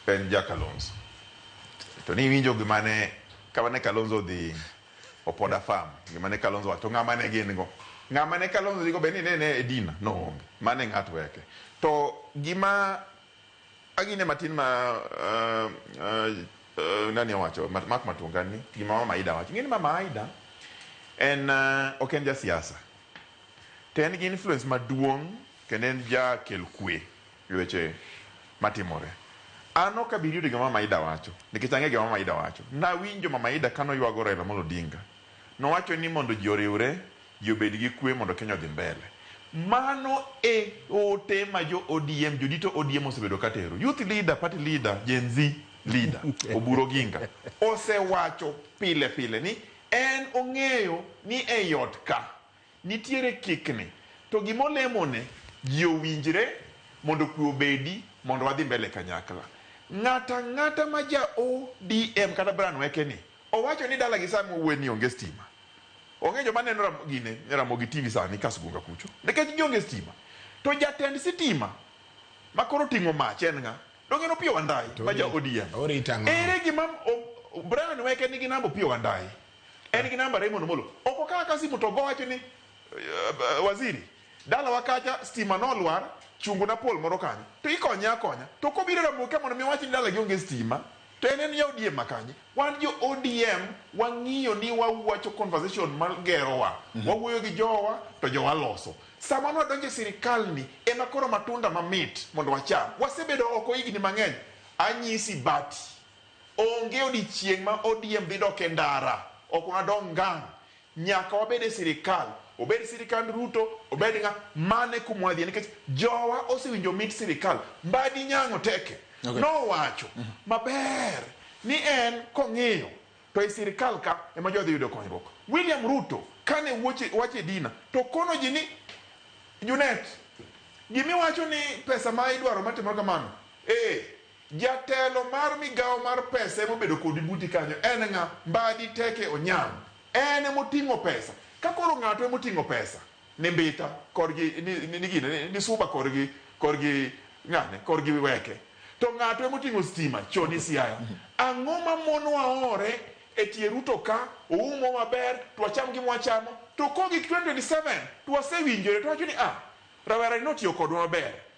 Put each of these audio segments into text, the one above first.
en ja Kalonzo to ni winjo gima ne kama ne Kalonzo odhi opoda farm gima ne Kalonzo wacho ng'ama ne gin go ng'ama ne Kalonzo dhigo be ni ne ne Edina no onge mane ng'at weke to gima agine matin ma uh, uh, uh, nani owacho Mat- Mark Matunga ni gima mama Aida wacho ng'eni mama Aida en uh, ok en ja siasa to en gi influence maduong' kendo en jakel kwe Weche matimore. An ok abi yudo gima Mamaida wacho nikech ang'eyo gima Mamaida wacho. Nawinjo Mamaida kane oywago Raila Amolo Odinga. Nowacho ni mondo ji oriwre, ji obed gi kwe mondo Kenya odhi mbele. Mano e ote ma jo ODM, jodito ODM osebedo katero. Youth leader, party leader, Gen Z leader, Oburu Oginga, osewacho pile pile ni en ong'eyo ni ei ot ka, Nitiere kikni to gima olemone ji owinjre mondo kwe obedi mondo wadhi mbele kanyakla. Ng'ato ang'ata ma ja ODM kata Brian Weke ni owacho ni dalagi saa mwawuoye ni onge stima. Onge joma neno gine Ramogi TV sani Kasgunga kucho nikech gionge stima. To jatend sitima ma koro oting'o mach en ng'a? Donge en Opiyo Wandayi ma ja ODM. Ere gima Brian Weke nigi namba Opiyo Wandayi? En gi namba Raymond Omolo. Ok okawa ka simu to ogo wacho ni uh, waziri dalawa kacha stima nolwar chungu na pol moro kanyo to ikonye akonya to kobiro ramoka mondo mi wach ni dala gi onge stima to en en ya ODM makanye wan jo ODM wang'iyo ni wawacho conversation magerowa mm -hmm. wawuoyo gi jowa to jowa loso sama nwadonje sirikal ni ema koro matunda mamit mondo wacham wasebedo oko higni mang'eny anyisi bati Onge odiechieng' ma ODM dhi dok e ndara, ok wanadog ngang'. Nyaka wabed e sirkal, obed sirkand Ruto, obed ng'a, mano e kuma wadhiye nikech jowa osewinjo mit sirkal. Mbadi Nyang'o Teke Okay. nowacho maber ni en kong'iyo to e sirkal ka ema jodhi yudo konyruok. William Ruto kane wuoche- wacho e dina to okono ji ni Junet, gimiwacho ni pesa ma idwaro matimore kamano, ee, Jatelo mar migawo mar pesa ema obedo kodi buti kanyo, en ng'a? Mbadi teke Onyango, en ema oting'o pesa. Ka koro ng'ato ema oting'o pesa ni Mbita korgi ni gine ni Suba korgi korgi ng'ane korgi Weke to ng'ato ema oting'o stima choni Siaya, ang'o ma monowa ore e tie Ruto ka oumo maber to wacham gima wachamo to kogik 2027 to wasewinjore to wawacho ni ah, rawerani notiyo kodwa maber.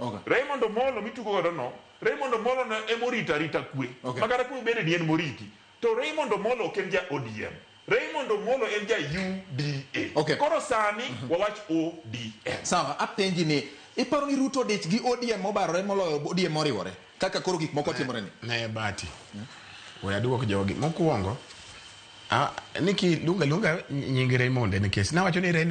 Okay. Raymond Omolo mitugo godo no, Raymond Omolo no ema orito arita kwe. Okay. Makata kwe bende ni en moriti. To Raymond Omolo ok en ja ODM. Raymond Omolo en ja UDA. Okay. Koro sani mm -hmm. wawach ODM. Sawa, apenji ni iparo ni Ruto dich gi ODM mobarore moloyo ODM moriwore kaka koro gik moko timore ni. Ne bati. Hmm? We aduok jogi mokuongo. Ah, niki lunga lunga nyingi Raymond nikech nawacho ni Raymond